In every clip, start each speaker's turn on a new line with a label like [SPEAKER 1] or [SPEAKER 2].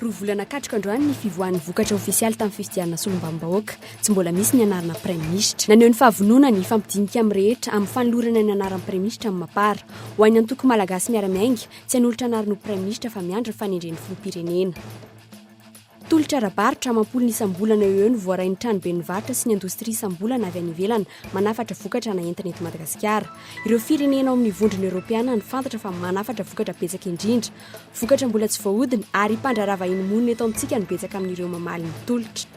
[SPEAKER 1] Roa volana katroka androany ny fivoahan'ny vokatra ofisialy tamin'ny fifidianana solombavambahoaka. Tsy mbola misy ny anarana praiminisitra. Naneho ny fahavononany hifampidinika amin'ny rehetra amin'ny fanolorana ny anaran'ny praiminisitra amin'ny Mapar. Ho an'ny antoko Malagasy miara-miainga, tsy hanolotra anarana ho praiminisitra fa miandry ny fanendren'ny filoham-pirenena. Tolotra ara-barotra amam-polony isam-bolana eo ho eo no voarain'ny tranoben'ny varotra sy ny indostria isam-bolana avy any ivelany manafatra vokatra na entina eto Madagasikara. Ireo firenena ao amin'ny Vondrona Eoropeana no fantatra fa manafatra vokatra betsaka indrindra. Vokatra mbola tsy voahodina ary mpandraharaha vahiny monina eto amintsika no betsaka amin'ireo mamaly ny tolotra.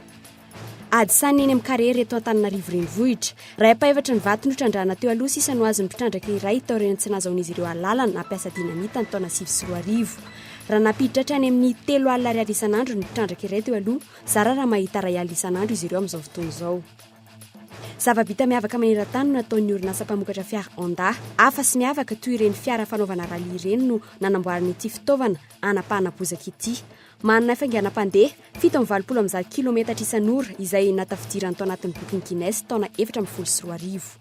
[SPEAKER 1] Ady sanina eny amin'ny kariery eto Antananarivo Renivohitra. Iray ampahefatry ny vato notrandrahana teo aloha sisa no azon'ny mpitrandraka iray tao aorian'ny tsy nahazahoan'izy ireo alalana nampiasa dinamita ny taona sivy sy roa arivo. Raha nampiditra hatrany amin'ny telo alina ariary isan'andro ny mpitrandraka iray teo aloha, zara raha mahita iray alina isan'andro izy ireo amin'izao fotoana izao. Zava-bita miavaka maneran-tany no nataon'ny orinasa mpamokatra fiara Honda. Hafa sy miavaka toy ireny fiara fanaovana rallye ireny no nanamboarana ity fitaovana hanapahana bozaka ity. Manana fainganam-pandeha fito amby valopolo amby zato kilometatra isan'ora izay natafidirany tao anatin'ny bokin'i Guinness taona efatra ambin'ny folo sy roa arivo.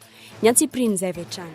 [SPEAKER 1] Ny antsipirian'izay avy hatrany.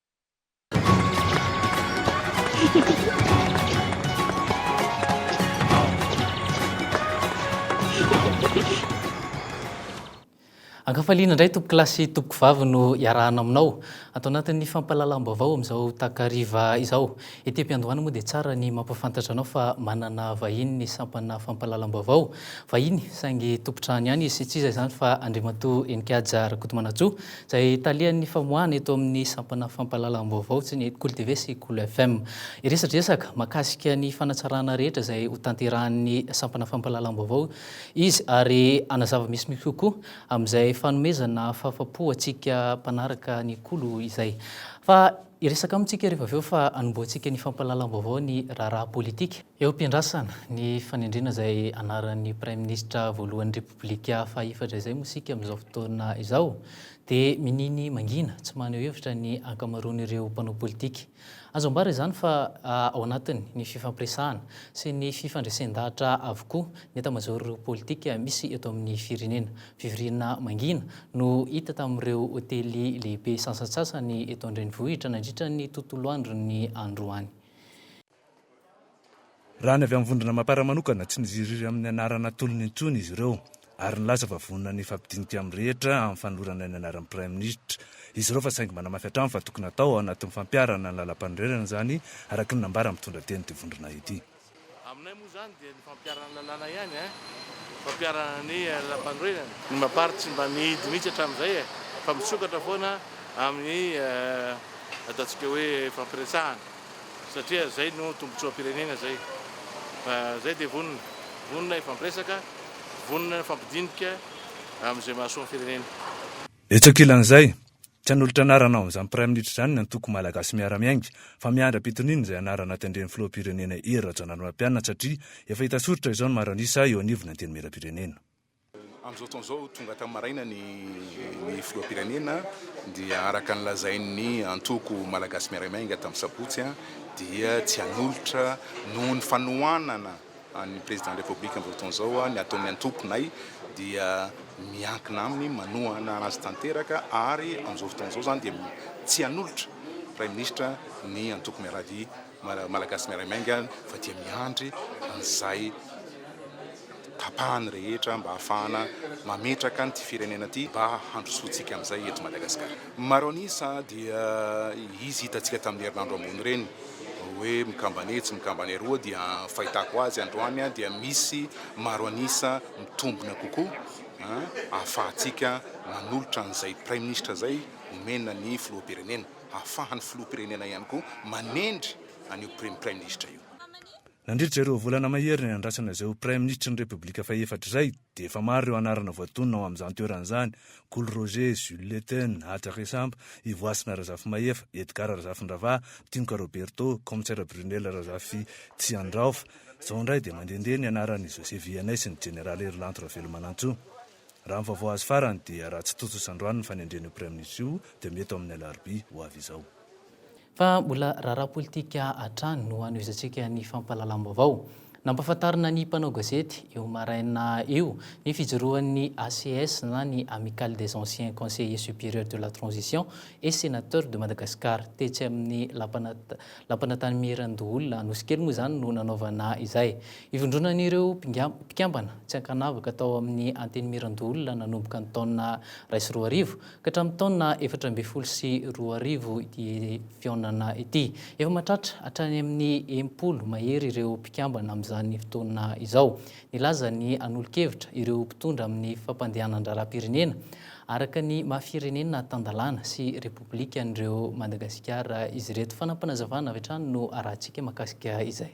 [SPEAKER 2] Ankafaliana indray tompoko lahy sy tompoko vavy no iarahana aminao atao anatin'ny fampahalalam-baovao amin'izao takariva izao. Ety am-piandohana moa dia tsara ny mampahafantatra anao fa manana vahiny ny sampana fampahalalam-baovao. Vahiny saingy tompon-trano ihany izy, tsy iza izany fa Andriamatoa Heninkaja Rakotomanantsoa. izay talian'ny famoahana eto amin'ny sampana fampahalalam-baovao tsy ny Kolo TV sy Kolo FM. Hiresadresaka mahakasika ny fanatsarana rehetra izay ho tanterahan'ny sampana fampahalalam-baovao izy ary hanazava misimisy kokoa amin'izay fanomezana fahafapo antsika mpanaraka ny Kolo izay. Fa Hiresaka amintsika rehefa avy eo fa hanombohantsika ny fampahalalam-baovao ny raharaha politika. Eo am-piandrasana ny fanendrena izay anaran'ny Praiminisitra voalohan'ny Repoblika fahefatra izay moa isika amin'izao fotoana izao dia miniany mangina tsy maneho hevitra ny ankamaroan'ireo mpanao politika. Azo ambara izany fa ao anatin'ny ny fifampiresahana sy ny fifandresen-dahatra avokoa ny etamazaoro politika misy eto amin'ny firenena. Fivoriana mangina no hita tamin'ireo hotely lehibe sasantsasany eto an-drenivohitra nandritra ny tontolo andron'ny androany.
[SPEAKER 3] Raha ny avy amin'ny Vondrona Mapar manokana, tsy niziriry amin'ny anarana atolony intsony izy ireo ary nilaza fa vonona ny hifampidinika amin'ny rehetra amin'ny fanolorana ny anaran'ny Praiminisitra izy ireo fa saingy manamafy hatrany fa tokony hatao ao anatin'ny fampiharana ny lalampanorenana izany araka ny nambara mitondra teny ity vondrona ity. Aminay moa
[SPEAKER 4] izany dia ny fampiharana ny lalàna ihany e! Ny fampiharana ny lalampanorenana. Ny Mapar tsy mba nihidy mihitsy hatramin'izay e! Fa misokatra foana amin'ny ataontsika hoe fampiresahana satria izay no tombontsoam-pirenena izay. Fa izay dia vonona, vonona hifampiresaka, vonona hifampidinika amin'izay mahasoa ny firenena. Etsy ankilan'izay,
[SPEAKER 3] tsy hanolotra anarana ao amin'izany Praiminisitra izany ny antoko Malagasy Miara-miainga, fa miandry ampitoniana izay anarana tendren'ny Filoham-pirenena Hery Rajaonarimampianina satria efa hita soritra izao ny maranisa eo anivon'ny Antenimierampirenena. Amin'izao
[SPEAKER 5] fotoana izao, tonga hatramin'ny maraina ny Filoham-pirenena dia araka ny lazain'ny antoko Malagasy Miara-miainga tamin'ny sabotsy dia tsy hanolotra noho ny fanohanana an'ny Président République amin'izao fotoana izao, ny ataon'ny antokonay dia miankina aminy, manohana azy tanteraka ary amin'izao fotoana izao izany dia tsy hanolotra Praiminisitra ny antoko Miaravia Malagasy Miaray Miainga fa dia miandry an'izay tapahany rehetra mba hahafahana mametraka an'ity firenena ity mba handrosoantsika amin'izay eto Madagasikara. Maro an'isa dia izy hitantsika tamin'ny herinandro ambony ireny, hoe mikambana etsy mikambana eroa dia fahitako azy androany dia misy maro an'isa mitombina kokoa ahafahantsika manolotra an'izay praiminisitra izay omena ny filoham-pirenena, ahafahan'ny filoham-pirenena ihany koa manendry an'io praiminisitra io. Nandritra ireo
[SPEAKER 3] volana mahery niandrasana izay ho Praiminisitry ny Repoblika fahefatra izay dia efa maro ireo anarana voatonona ao amin'izany toerana izany, Kolo Roger, Jules Leten, Haja Resampa, Ivoasina Razafimahefa, Edgard Razafindravaha, Tinoka Roberto, Kaomisera Brunel Razafitsiandraofa. Izao indray dia mandehandeha ny anaran'i José Vianney sy ny Jeneraly Herilanto Ravelomanantsoa. Raha ny vaovao azo farany dia raha tsy tontosa androany ny fanendrena io Praiminisitra io dia mety ho amin'ny alarobia ho avy izao. Fa mbola
[SPEAKER 2] raharaha politika hatrany no hanohizantsika ny fampahalalam-baovao. Nampahafantarina ny mpanao gazety io maraina io ny fijoroan'ny ACS na ny Amicale des Anciens Conseillers Supérieurs de la Transition et Sénateurs de Madagascar. Tetsy amin'ny Lapana Lapan'Antanimierandoholona Anosikely moa izany no nanaovana izay. Ivondronan'ireo mpikambana tsy ankanavaka tao amin'ny Antenimierandoholona nanomboka ny taona iray sy roa arivo Ka hatramin'ny taona efatra ambin'ny folo sy roa arivo ity fihaonana ity. Efa mahatratra hatrany amin'ny enimpolo mahery ireo mpikambana amin'izany fotoana izao. Nilaza ny hanolo-kevitra ireo mpitondra amin'ny fampandehanan-draharaham-pirenena araka ny maha firenena tan-dalàna sy repoblika an'ireo Madagasikara izy ireto. Fanampinazavana avy hatrany no arahantsika mahakasika izay.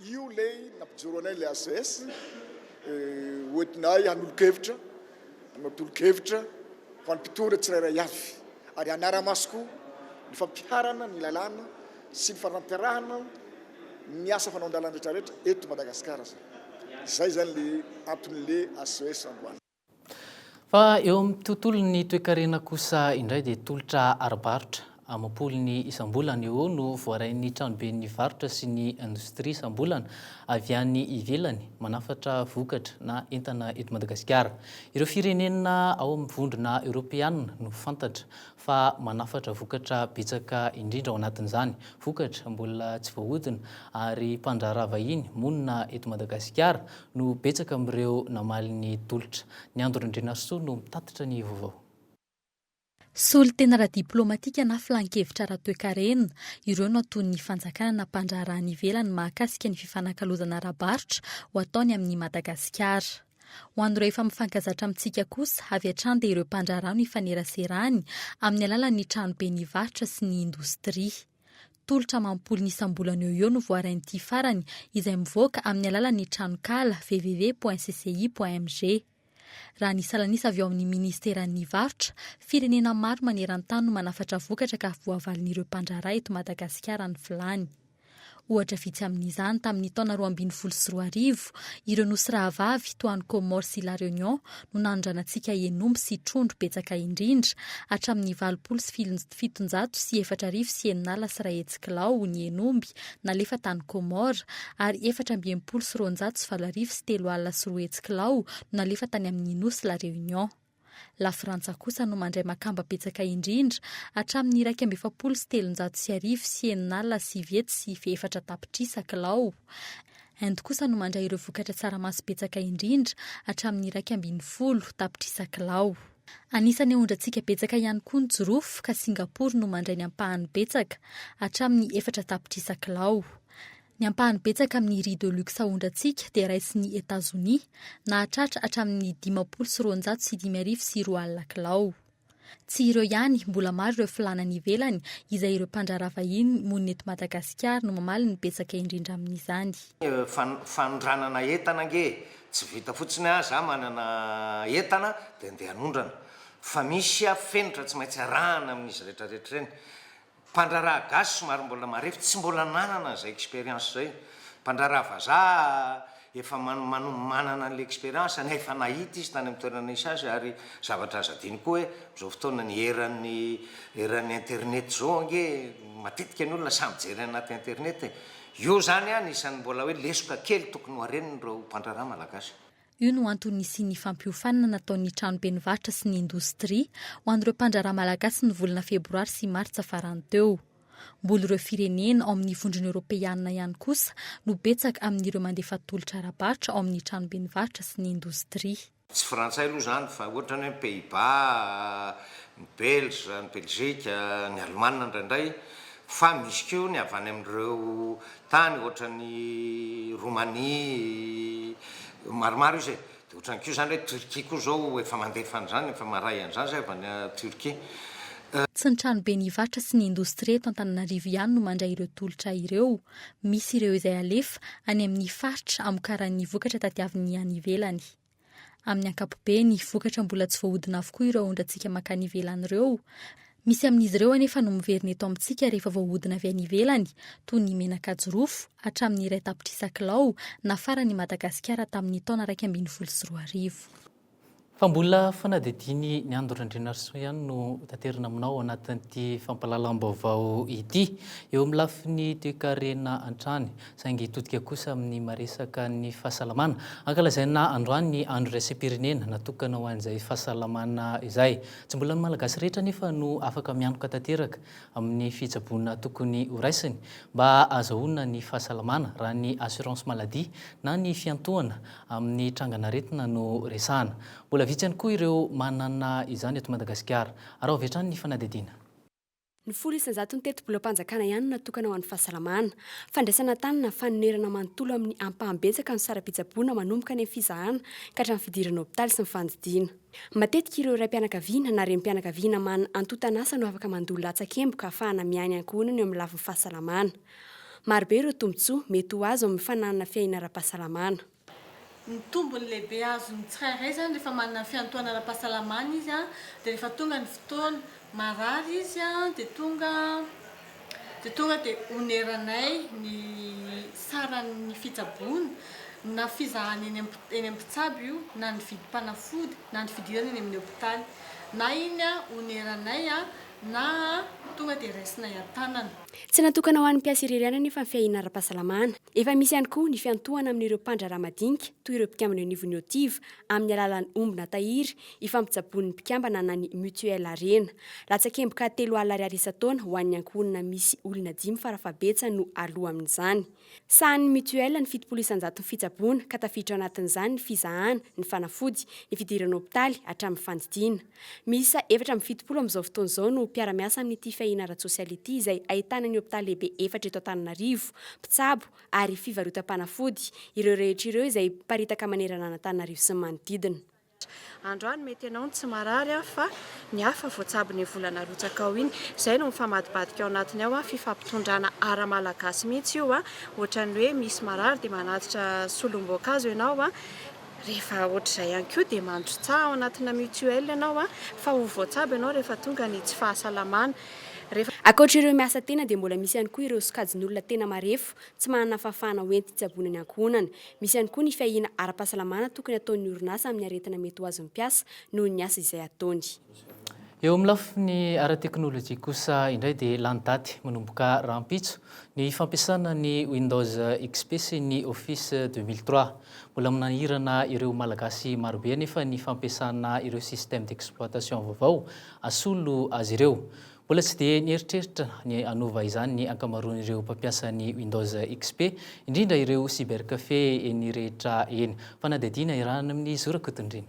[SPEAKER 6] Io ilay nampijoro anay ilay ACS, hoentinay hanolo-kevitra, hanao tolo-kevitra ho an'ny mpitondra tsirairay avy ary hanara-maso koa ny fampiharana ny lalàna sy ny fanampiarahana ny asa fanaovan-dalana rehetrarehetra eto Madagasikara. Izay izany ilay anton'ilay ACS androany. Fa
[SPEAKER 2] eo amin'ny tontolon'ny toekarena kosa indray dia tolotra ara-barotra amam-polony isam-bolana eo no voarain'ny tranoben'ny varotra sy ny indostria isam-bolana avy any ivelany manafatra vokatra na entana eto Madagasikara. Ireo firenena ao amin'ny vondrona eoropeanina no fantatra fa manafatra vokatra betsaka indrindra ao anatin'izany, vokatra mbola tsy voahodina ary mpandraharaha vahiny monina eto Madagasikara no betsaka amin'ireo namaly ny tolotra. Ny Andro Randrianarisoa no mitatitra ny vaovao.
[SPEAKER 7] Solontena ara-diplaomatika na filan-kevitra ara-toekarena, ireo no ataon'ny fanjakana na mpandraharaha any ivelany mahakasika ny fifanakalozana ara-barotra ho ataony amin'i Madagasikara. Ho an'ireo efa mifankazatra amintsika kosa, avy hatrany dia ireo mpandraharaha no ifaneraserany amin'ny alalan'ny tranobe ny varotra sy ny indostria. Tolotra amam-polony isam-bolana eo ho eo no voarain'ity farany izay mivoaka amin'ny alalan'ny tranonkala www.cci.mg. Raha ny salan'isa avy ao amin'ny minisiteran'ny varotra, firenena maro maneran-tany no manafatra vokatra ka voavalin'ireo mpandraharaha eto Madagasikara ny filàny. Ohatra vitsy amin'izany tamin'ny taona roa ambin'ny folo sy roa arivo, ireo nosy rahavavy toa an'i Comores sy La Réunion no nanondranantsika hen'omby sy trondro betsaka indrindra, hatramin'ny valopolo sy fitonjato sy efatra arivo sy eninala sy iray hetsy kilao ny hen'omby nalefa tany Comores, ary efatra amby enimpolo sy roanjato sy valo arivo sy telo alina sy roa hetsy kilao no nalefa tany amin'ny nosy La Réunion. Lafrantsa kosa no mandray makamba betsaka indrindra, hatramin'ny iraika amby efapolo sy telonjato sy arivo sy enina alina sivy hetsy sy ife efatra tapitrisa kilao. Inde kosa no mandray ireo vokatra tsaramaso betsaka indrindra, hatramin'ny iraika ambin'ny folo tapitrisa kilao. Anisan'ny aondrantsika betsaka ihany koa ny jirofo, ka Singapour no mandray ny ampahany betsaka, hatramin'ny efatra tapitrisa kilao. Ny ampahany betsaka amin'ny riz de luxe ahondrantsika dia raisin'i Etazonia, nahatratra hatramin'ny dimampolo sy roanjato sy dimy arivo sy roa alina kilao. Tsy ireo ihany, mbola maro ireo filàna any ivelany, izay ireo mpandraharaha vahiny monina eto Madagasikara no mamaly ny betsaka indrindra amin'izany.
[SPEAKER 8] Fanondranana entana ange tsy vita fotsiny aho za manana entana dia andeha anondrana fa misy aho fenitra tsy maintsy arahana amin'izy retraretra ireny. Mpandraharaha gasy somary mbola marefo tsy mbola nanana an'izay expérience izay. Mpandraharaha vazaha efa manana an'ilay expérience na efa nahita izy tany amin'ny toerana nisy azy ary zavatra azo adino koa hoe amin'izao fotoana ny eran'ny eran'ny internet izao ange matetika ny olona samy mijery anaty internet e. Io izany anisan'ny mbola hoe lesoka kely tokony ho haren'ireo mpandraharaha malagasy. Io
[SPEAKER 7] no antony nisian'ny fampiofanana nataon'ny tranobe nivarotra sy ny indostria ho an'ireo mpandraharaha malagasy ny volana febroary sy martsa farany teo. Mbola ireo firenena ao amin'ny Vondrona Eoropeanina ihany kosa no betsaka amin'ireo mandefa tolotra ara-barotra ao amin'ny tranobe nivarotra sy ny indostria. Tsy frantsay aloha
[SPEAKER 8] izany fa ohatra ny hoe ny Pays-Bas, ny Belge, ny Belgique, ny Allemagne indraindray fa misy koa ny avy any amin'ireo tany ohatran'ny Romania maromaro izy e, dia ohatran'ny koa izany hoe Turquie koa izao efa mandefa an'izany, efa maray an'izany izay avy any Turquie. Tsy
[SPEAKER 7] ny tranoben'ny Ivarotra sy ny Indostria eto Antananarivo ihany no mandray ireo tolotra ireo. Misy ireo izay alefa any amin'ny faritra amokaran'ny vokatra tadiaviny any ivelany. Amin'ny ankapobeny, vokatra mbola tsy voahodina avokoa ireo aondratsika mankany ivelany ireo. Misy amin'izy ireo anefa no miverina eto amintsika rehefa voahodina avy any ivelany, toy ny menaka jirofo, hatramin'ny iray tapitrisa kilao, nafaran'i Madagasikara tamin'ny taona iraika ambin'ny folo sy roa arivo.
[SPEAKER 2] Fa mbola fanadihadiany ny Ando Randrianarisoa ihany no hotaterina aminao ao anatin'ity fampahalalam-baovao ity. Eo amin'ny lafiny toekarena hatrany, saingy hitodika kosa amin'ny maresaka ny fahasalamana. Ankalazaina androany ny andro iraisam-pirenena natokana ho an'izay fahasalamana izay. Tsy mbola ny Malagasy rehetra anefa no afaka mianoka tanteraka amin'ny fitsaboana tokony horaisiny mba hahazahoana ny fahasalamana raha ny assurance maladie na ny fiantohana amin'ny trangan'aretina no resahana. Mbola vitsy ihany koa ireo manana izany eto Madagasikara. Araho avy hatrany ny fanadihadiana. Ny
[SPEAKER 1] folo isan-jaton'ny tetibolam-panjakana ihany no natokana ho an'ny fahasalamana. Fandraisana tany na fanonerana manontolo amin'ny ampahany betsaka no saram-pitsaboana manomboka any amin'ny fizahana ka hatramin'ny fidirana hopitaly sy ny fandidiana. Matetika ireo raim-pianakaviana na renim-pianakaviana manana antontan'asa no afaka mandoa latsakemboka ahafahana miahy ny ankohonany eo amin'ny lafiny fahasalamana. Marobe ireo tombontsoa mety ho azo amin'ny fananana fiahiana ara-pahasalamana. Ny
[SPEAKER 9] tombony lehibe azon'ny tsirairay izany rehefa manana ny fiantohana ara-pahasalamana izy dia rehefa tonga ny fotoana marary izy dia tonga dia tonga dia oneranay ny saran'ny fitsaboana na fizahana eny amin'ny mpitsabo io na ny vidim-panafody na ny fidirana eny amin'ny hopitaly na iny oneranay na tonga dia raisinay an-tanana. Tsy natokana ho
[SPEAKER 1] an'ny mpiasa irery ihany anefa ny fiahiana ara-pahasalamana. Efa misy ihany koa ny fiantohana amin'ireo mpandraharaha madinika toy ireo mpikambana eo anivon'ny OTIV amin'ny alalan'ny omby na tahiry ifampitsaboan'ny mpikambana na ny mutuelle Harena. Latsakemboka telo alina ariary isan-taona ho an'ny ankohonana misy olona dimy fara fahabetsany no aloa amin'izany. Sahanin'ny mutuelle ny fitopolo isan-jato ny fitsaboana ka tafiditra ao anatin'izany ny fizahana, ny fanafody, ny fidirana hopitaly hatramin'ny fandidiana. Miisa efatra amby fitopolo amin'izao fotoana izao no mpiara-miasa amin'ity fiahiana ara-tsosialy ity izay ahitana ny hopitaly lehibe efatra eto Antananarivo, mpitsabo ary fivarotam-panafody, ireo rehetra ireo izay miparitaka manerana an'Antananarivo sy ny manodidina. Androany
[SPEAKER 10] mety ianao no tsy marary an, fa ny hafa voatsabo ny volana arotsaka ao iny. Izay no mifamadibadika ao anatiny ao an, fifampitondrana ara malagasy mihitsy io an, ohatran'ny hoe misy marary dia manatitra solom-boankazo ianao an, Rehefa ohatr'izay ihany koa dia mandrotsaha ao anatina mutuelle ianao fa ho voatsabo ianao rehefa tonga ny tsy fahasalamana. Rehefa.
[SPEAKER 1] Ankoatr'ireo miasa tena dia mbola misy ihany koa ireo sokajin'olona tena marefo tsy manana fahafahana hoenti-tsaboina ny ankohonany. Misy ihany koa ny fiahiana ara-pahasalamana tokony ataon'ny orinasa amin'ny aretina mety ho azon'ny mpiasa noho ny asa izay ataony. Eo amin'ny
[SPEAKER 2] lafiny ara-teknolojia kosa indray dia lany daty manomboka rahampitso ny fampiasana ny Windows XP sy ny Office 2003. Mbola manahirana ireo Malagasy marobe anefa ny fampiasana ireo système d'exploitation vaovao asolo azy ireo. Mbola tsy dia nieritreritra ny hanova izany ny ankamaroan'ireo mpampiasa ny Windows XP, indrindra ireo cybercafé eny rehetra eny. Fanadihadiana iarahana amin'i Zora Kotondrina.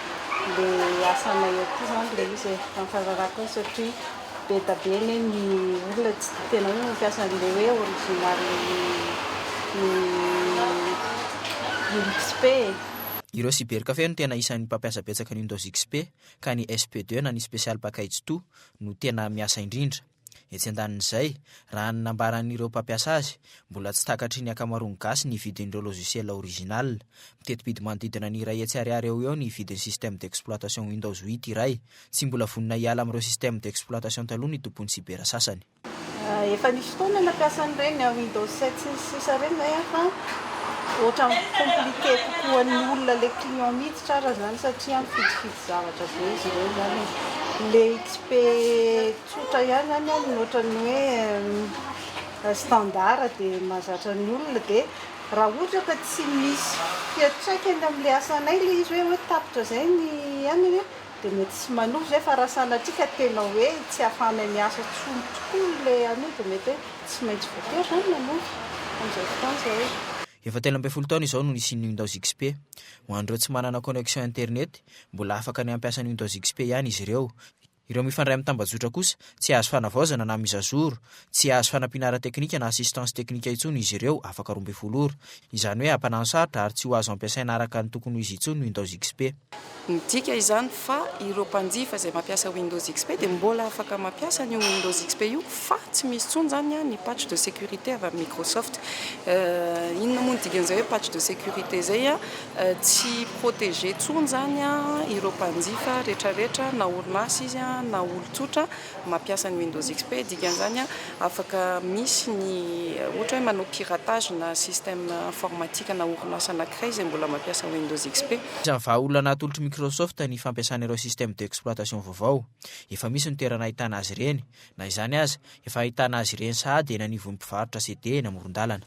[SPEAKER 10] ilay asanay aty izany ilay izy e, amin'ny fahalalako azy satria be dia be anie ny olona tsy tia tena hoe mampiasa an'ilay hoe original Windows XP e. Ireo
[SPEAKER 11] cybercafé no tena isan'ny mpampiasa betsaka ny Windows XP ka ny SP2 na ny Special Package Two no tena miasa indrindra. Etsy an-danin'izay, raha ny nambaran'ireo mpampiasa azy, mbola tsy takatry ny ankamaroan'ny gasy ny vidin'ireo logiciel original. Miteti-bidy manodidina ny iray hetsy ariary eo ho eo ny vidin'ny système d'exploitation Windows huit iray. Tsy mbola vonona hiala amin'ireo système d'exploitation taloha ny tompon'ny sibera sasany. Efa nisy
[SPEAKER 10] fotoana nampiasa an'ireny Windows sept sy ny sisa ireny izahay an, fa ohatran'ny compliqué kokoa ny olona ilay client miditra ary izany satria mifidifidy zavatra be izy ireo izany e. Ilay XP. Tsotra ihany any an, ny ohatran'ny hoe standard dia mahazatra ny olona dia raha ohatra ka tsy misy fiantraikany amin'ilay asanay ilay izy hoe hoe tapitra izay ny aniny an, dia mety tsy manohy izay fa raha sanatria ka tena hoe tsy ahafahanay miasa intsony tokoa ilay anio dia mety hoe tsy maintsy voatery izany manohy amin'izao fotoana izao. Efa telo ambin'ny folo
[SPEAKER 11] taona izao no nisian'ny Windows XP. Ho an'ireo tsy manana connexion internet, mbola afaka ny hampiasa ny Windows XP ihany izy ireo. Ireo mifandray amin'ny tambajotra kosa, tsy hahazo fanavaozana na mise à jour, tsy hahazo fanampiana ara-teknika na assistance teknika intsony izy ireo afaka roa ambin'ny folo ora. Izany hoe hampananon-sarotra ary tsy ho azo ampiasaina araka ny tokony ho izy intsony ny Windows XP. Midika
[SPEAKER 12] izany fa ireo mpanjifa izay mampiasa Windows XP dia mbola afaka mampiasa an'io Windows XP io fa tsy misy intsony izany ny patch de sécurité avy amin'ny Microsoft. Inona moa ny dikan'izay hoe patch de sécurité izay? Tsy protégé tsony izany ireo mpanjifa retraretra na orinasa izy na olon-tsotra mampiasa ny Windows XP. Dikan'izany afaka misy ny ohatra hoe manao piratage na système informatique na orinasa anankiray izay mbola mampiasa Windows XP. Isan'ny vahaolana atolotr'i
[SPEAKER 11] Microsoft ny fampiasana ireo système d'exploitation vaovao. Efa misy ny toerana ahitana azy ireny. Na izany aza, efa ahitana azy ireny sahady eny anivon'ny mpivarotra CD eny amoron-dalana.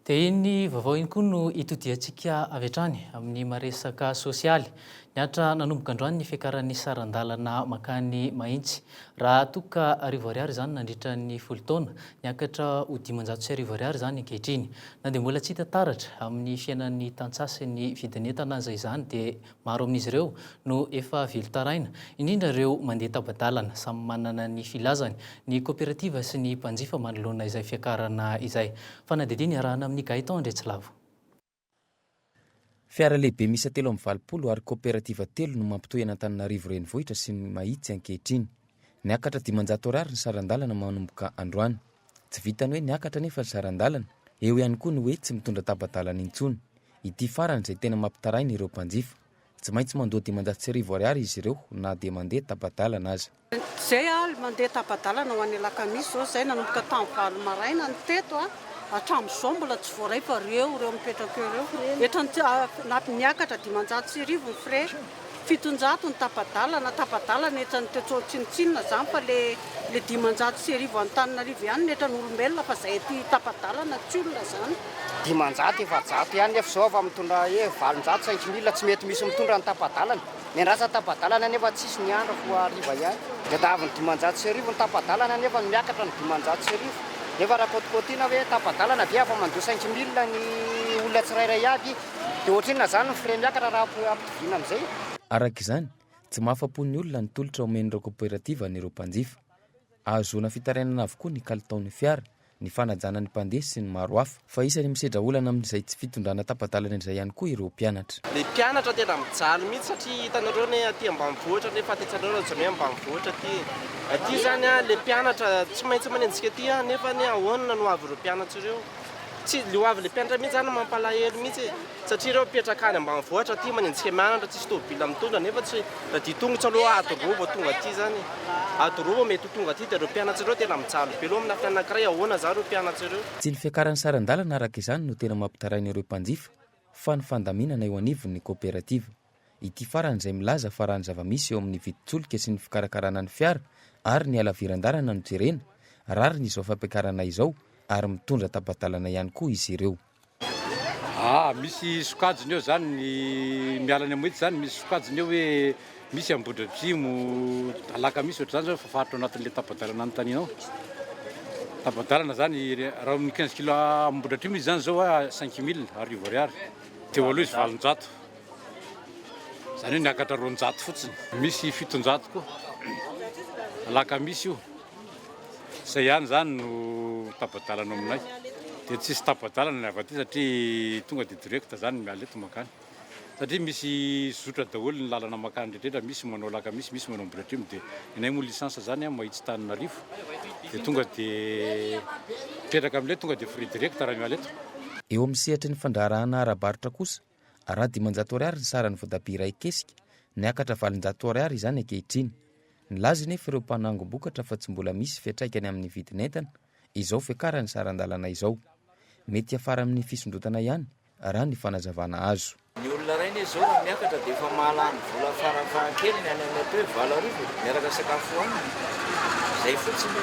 [SPEAKER 2] Dia iny ny vaovao iny koa no itodiantsika avy hatrany amin'ny maresaka sosialy. Niantra nanomboka androany ny fiakaran'ny saran-dalana mankany Mahitsy. Raha toa ka arivo ariary izany nandritra ny folo taona, niakatra ho dimanjato sy arivo ariary izany ankehitriny. Na dia mbola tsy hita taratra amin'ny fiainan'ny tantsaha sy ny vidin'entana aza izany dia Maro amin'izy ireo no efa velon-taraina, indrindra ireo mandeha tapa-dalana. Samy manana ny filazany ny koperativa sy ny mpanjifa manoloana izay fiakarana izay. Fanadihadiana iarahana amin'i Gaëtan Andriatsilavo.
[SPEAKER 13] Fiara lehibe miisa telo amby valopolo ary koperativa telo no mampitohy an'Antananarivo renivohitra sy ny Mahitsy ankehitriny. Miakatra dimanjato Ar ny saran-dalana manomboka androany. Tsy vitan'ny hoe niakatra anefa ry saran-dalana, eo ihany koa ny hoe tsy mitondra tapa-dalana intsony. Ity farany izay tena mampitaraina ireo mpanjifa. Tsy maintsy mandoa dimanjato sy arivo ariary izy ireo na dia mandeha tapa-dalana aza. Izay aho
[SPEAKER 14] mandeha tapa-dalana ho any alakamisy izao izay, nanomboka tamin'ny valo maraina ny teto hatramin'izao mbola tsy voaray fa ireo ireo mipetraka eo ireo, eto niakatra dimanjato sy arivo ny frais. Fitonjato ny tapa-dalana, tapa-dalana etra ny Tetro tsinontsinona zany fa le le dimanjato sy arivo Antananarivo ihany no etra ny olombelona fa zay aty tapa-dalana tsy olona zany. Dimanjato
[SPEAKER 15] efajato ihany nefa zao afa mitondra hoe valonjato cinq mille tsy mety misy mitondra ny tapa-dalana. Miandrasa tapa-dalana nefa tsisy ny andro fo hariva ihany. De tavy ny dimanjato sy arivo ny tapa-dalana nefa ny miakatra ny dimanjato sy arivo nefa rakôtikôtina hoe tapa-dalana ve afa mandoa cinq mille ny olona tsirairay aby Dia ohatrinona izany ny frais miakatra raha ampitoviana amin'izay? Araka izany,
[SPEAKER 13] tsy mahafa-po ny olona ny tolotra omen'ireo kaoperativa an'ireo mpanjifa. Ahazoana fitarainana avokoa ny kalitaon'ny fiara, ny fanajana ny mpandeha sy ny maro hafa. Fa isan'ny misedra olana amin'izay tsy fitondrana tapa-dalana izay ihany koa ireo mpianatra. Ilay mpianatra tena
[SPEAKER 16] mijaly mihitsy satria hitanareo anie aty ambanivohitra nefa tantsainareo raha jereo hoe ambanivohitra aty e. Aty izany ilay mpianatra tsy maintsy manenjika aty nefa anie ahoana no ho avin'ireo mpianatra ireo? Tsy le hoavin'le mpianatra mihitsy zany no mampalahelo mihitsy e! Satria reo mipetraka any ambanivohitra aty manenjika mianatra tsisy tôbila mitondra nefa tsy ra dia tongotra aloha ady roa vao tonga aty zany e! Ady roa vao mety ho tonga aty dia reo mpianatsa reo tena mijaly be loha amina fianakira hoe ahoana zany reo mpianatsa reo? Tsy ny fiakaran'ny saran-dalana
[SPEAKER 13] araka izany no tena mampitaraina ireo mpanjifa fa ny fandaminana eo anivon'ny koperativa. Ity farany izay milaza fa raha ny zava-misy eo amin'ny vidin-tsolika sy ny fikarakarana ny fiara ary ny halaviran-dalana no jerena, rariny izao fampiakarana izao ary mitondra tapa-dalana ihany koa izy ireo. Aa, misy
[SPEAKER 17] sokajiny eo izany ny miala any Ambohitra izany, misy sokajiny eo hoe misy Ambohidratrimo, Alakamisy ohatr'izany izao efa faritra ao anatin'ilay tapa-dalana anontaniana ao. Tapa-dalana izany, raha eo amin'ny quinze kilo Ambohidratrimo izy izany izao cinq mille, arivo ariary. Teo aloha izy valonjato. Izany hoe niakatra roanjato fotsiny. Misy fitonjato koa. Alakamisy io. Izay ihany izany no tapa-dalana ao aminay. Dia tsy hisy tapa-dalana ny avy aty satria tonga dia direct izany miala eto mankany. Satria misy zotra daholo ny lalana mankany rehetra. Misy manao Alakamisy, misy manao Ambohidratrimo. Dia ny anay moa licence izany an, Mahitsy Tananarivo. Dia tonga dia mipetraka amin'ilay tonga dia frais direct raha miala eto. Eo amin'ny sehatry ny
[SPEAKER 13] fandraharahana ara-barotra kosa Araho dimanjato ariary ny saran'ny voatabia iray kesika, niakatra valonjato ariary izany ankehitriny. Nilaza anefa ireo mpanangom-bokatra fa tsy mbola misy fiantraikany amin'ny vidin'entana izao fiakaran'ny saran-dalana izao. Mety hiafara amin'ny fisondrotana ihany, raha ny fanazavana azo. Ny olona iray anie izao
[SPEAKER 18] raha miakatra dia efa mahalany vola farafahakeliny any amin'ny atao hoe valo arivo miaraka sakafo hohaniny. Izay fotsiny.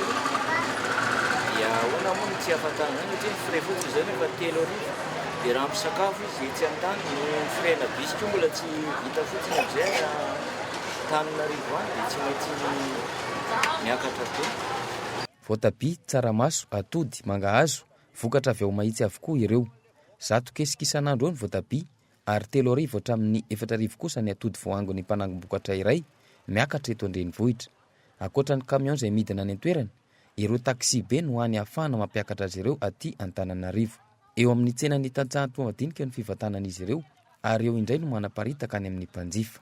[SPEAKER 18] Dia ahoana moa no tsy ahafantarana izany satria ny frais fotsiny izao nefa telo arivo. Dia raha misakafo izy etsy an-tany, ny firaina bisy koa mbola tsy vita fotsiny amin'izay any Antananarivo any dia tsy maintsy miakatra be. Voatabia,
[SPEAKER 13] tsaramaso, atody, mangahazo, vokatra avy ao Mahitsy avokoa ireo. Zato kesika isan'andro eo ny voatabia ary telo arivo hatramin'ny efatra arivo kosa ny atody voahangon'ny mpanangom-bokatra iray miakatra eto an-drenivohitra. Ankoatra ny kamiao izay midina any an-toerana, Ireo taxi-be no hany ahafahana mampiakatra azy ireo aty Antananarivo. Eo amin'ny tsenan'ny tantsaha Antohomadinika no fivantanan'izy ireo ary eo indray no manaparitaka any amin'ny mpanjifa.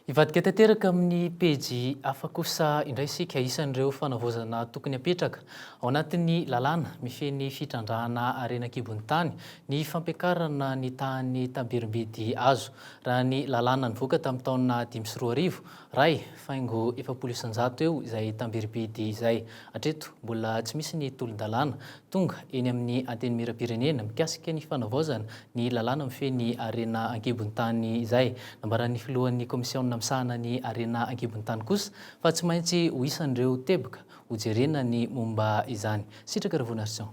[SPEAKER 2] Hivadika tanteraka amin'ny pejy hafa kosa indray isika. Isan'ireo fanavaozana tokony hapetraka ao anatin'ny lalàna mifehy ny fitrandrahana harena an-kibon'ny tany ny fampiakarana ny tahan'ny tabirim-bidy azo. Raha ny lalàna nivoaka tamin'ny taona dimy sy roa arivo, Ray, faingo efapolo isan-jato eo izay tambiribidy izay. Hatreto, mbola tsy misy ny tolon-dalàna tonga eny amin'ny Antenimierampirenena mikasika ny fanavaozana ny lalàna mifehy ny harena an-kibon-tany izay. Nambaran'ny filohan'ny kaomisiaona misahana ny harena an-kibon-tany kosa fa tsy maintsy ho isan'ireo teboka hojerena ny momba izany. Sitraka Ravonaison.